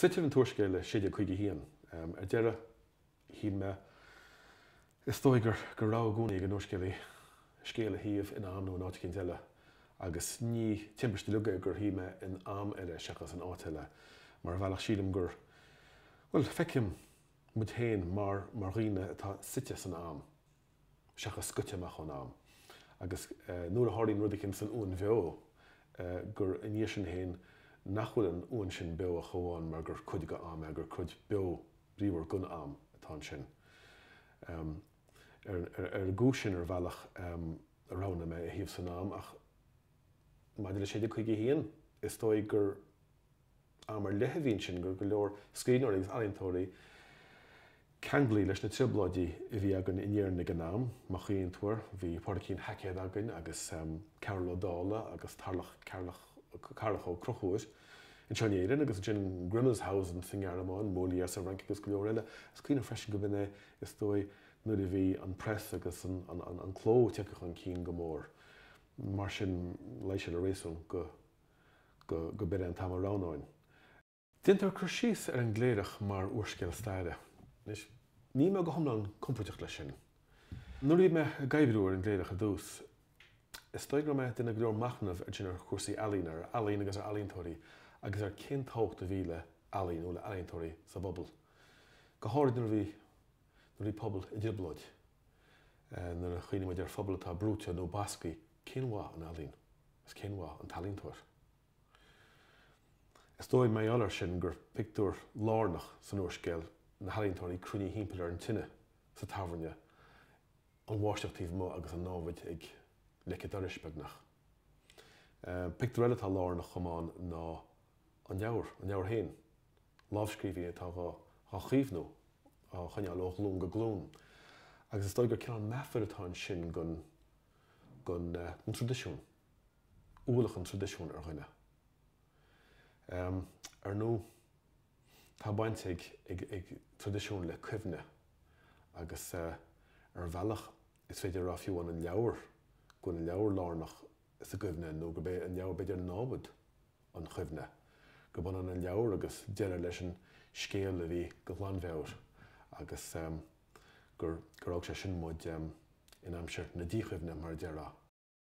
Suitear an t-úrscéal i 1651. Ar deireadh shíl mé, is dóigh, gur go raibh i gcónaí ag an úrscéalaí scéal a shuíomh in am nó in áit éicint eile, agus ní timpist uilig é gur shuigh mé in am eile seachas in áit eile, mar ar bhealach sílim gur, bhuel, feicim muid féin mar dhaoine atá suite san am. seachas scoite amach ón am, agus nuair a tharlaíonn rud éicint san uain bheo, gur i ndiaidh sin féin nach bhfuil an uain sin beo ach amháin mar gur cuid de am é, gur cuid beo bríomhar den am atá ansin. Ar an gcúis sin, ar bhealach, a roghnaigh mé a shuíomh san am, ach maidir le 1651, is dóigh gur. Am ar leith a bhí ansin gur go leor scríbhneoirí agus ealaíontóirí ceanglaithe leis na trioblóidí a bhí againn in Éirinn ag an am, má chuimhníonn tú air, bhí Pádraigín Haicéad againn agus Cearúll Ó Dálaigh agus Tarlach Carrach Ó Conchúir anseo in Éirinn agus ansin Grimmelshausen sa nGearmáin, Molière sa Fhrainc agus go leor eile. Is cuimhin liom freisin go b'in é is dóigh nuair a bhí an press agus an cló tagtha chun cinn go mór mar sin luigh sé le réasún go go b'in é an t-am a roghnóinn. Déantar cur síos ar an gCléireach mar úrscéal staire. Anois, níl mé go hiomlán compordach leis sin. Nuair a bhí mé ag oibriú ar an gCléireach ar dtús, is dóigh go raibh mé ag déanamh go leor machnaimh ansin ar chúrsaí ealaíne, ar ealaín agus ar ealaíontóirí agus ar cén tábhacht a bhí le ealaín nó le ealaíontóirí sa bpobal, go háirid nuair a bhí pobal i dtrioblóid. Nuair a chuimhníonn muid ar phobal atá brúite nó basctha, cén mhaith an ealaín? Is cén mhaith an t-ealaíontóir? Is dóigh, mar gheall air sin, gur pictiúr lárnach san úrscéal na healaíontóirí cruinnithe thimpeall ar an tine sa tábhairne, an bháisteach taobh amuigh agus an námhaid ag leic an dorais, beagnach. Pictiúr eile atá lárnach chomh maith ná an leabhar féin. lámhscríbhinn atá dhá chaomhnú, á choinneáil ó ghlúin go glúin, agus is dóigh gur cineál meafair atá ansin den traidisiún, ualach an traidisiúin ar dhuine. Ar ndóigh, tá baint ag traidisiún le cuimhne, agus ar bhealach is féidir a rá fiú an leabhar, go bhfuil an leabhar lárnach sa gcuimhne, nó gurb é an leabhar, b'fhéidir, námhaid an chuimhne, gurb ionann an leabhar agus deireadh leis an scéal a bhí go ghlanmheabhair, agus gur fhág sé sin muid in aimsir na díchuimhne, mar a déarfá.